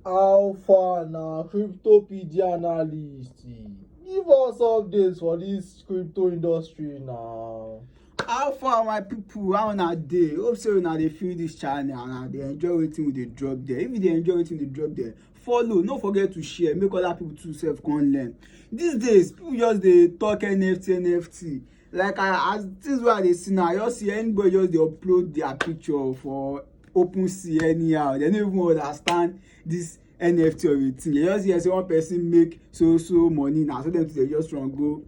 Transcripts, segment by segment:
How far na cryptopedia analyst? Give us updates for this crypto industry now. how far my people how una dey hope say una dey feel this channel and una dey enjoy wetin we dey drop there if you dey enjoy wetin we dey drop there follow no forget to share make other people too sef come learn these days people just dey talk nft nft like I, as things wey i dey see now i just see anybody just dey upload their picture for open sea anyhow they no even understand this nft or a thing you just hear say one person make so so money na so dem too dey just run go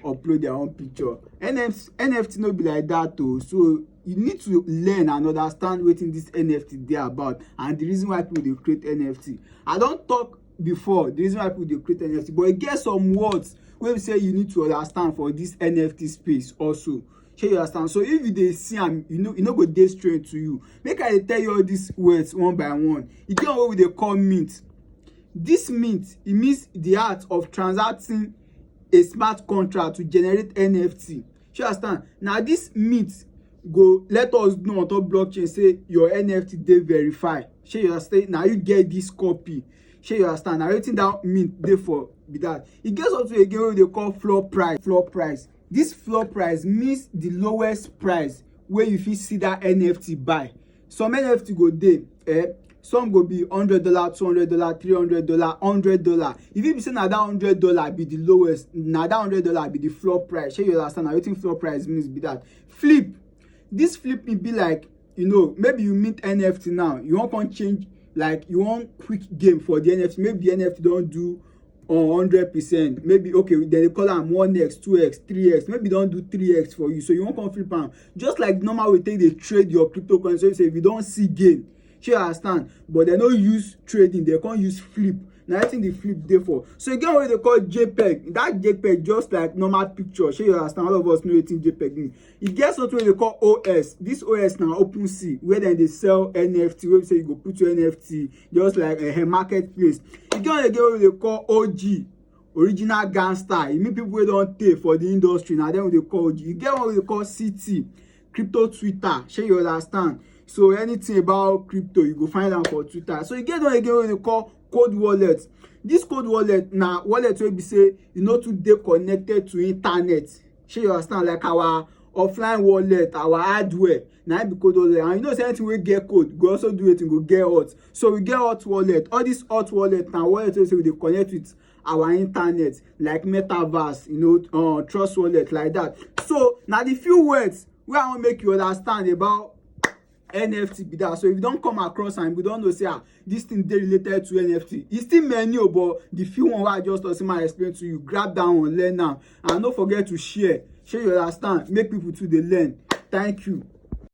upload their own picture nft nft no be like that o oh. so you need to learn and understand wetin this nft dey about and the reason why people dey create nft i don talk before the reason why people dey create nft but e get some words wey be say you need to understand for this nft space also shey you understand so if you dey see am you no you no go dey strange to you make i dey tell you all these words one by one e get one wey we dey call mint this mint e means the art of transacting a smart contract to generate nft you understand na this meet go let us know on top blockchain say your nft dey verified shey you understand na you get this copy shey you understand na wetin that mean dey for be that e get something again wey we dey call floor price floor price this floor price means the lowest price wey you fit see that nft buy some nft go dey eh some go be hundred dollar two hundred dollar three hundred dollar hundred dollar e fit be say na that hundred dollar be the lowest na that hundred dollar be the floor price shey you understand na wetin floor price means be that flip this flip e be like you know maybe you mint nft now you wan come change like you wan quick game for the nft maybe the nft don do on hundred percent maybe okay dem dey call am one x two x three x maybe don do three x for you so you wan come flip am just like normal way take dey trade your cryptocurrency so you say if you don see gain shey you understand but dem no use trading dem come use flip na wetin the flip dey for so e get one wey dey call jpeg that jpeg just like normal picture shey you understand all of us know wetin jpeg mean e get something wey dey call os this os na open sea where dem dey sell nft wey be say you go put your nft just like uh, marketplace e get one again wey we dey call og original gangster e mean people wey don tey for the industry na dem we dey call og e get one we dey call ct crypto twitter shey you understand so anything about crypto you go find am for twitter so e get one again wey we dey call code wallet this code wallet na wallet wey be say e no too dey connected to internet shey you understand like our offline wallet our hardware na im be code wallet and you know say anything wey get code go also do wetin go get hot so we get hot wallet all this hot wallet na wallet wey say we dey connect with our internet like metaverse you know uh, trust wallet like that so na the few words wey i wan make you understand about nft be that so if you don come across am you don know say ah this thing dey related to nft e still many o but the few one wey i just talk say ma explain to you grab that one learn am and no forget to share share you understand make people too dey learn thank you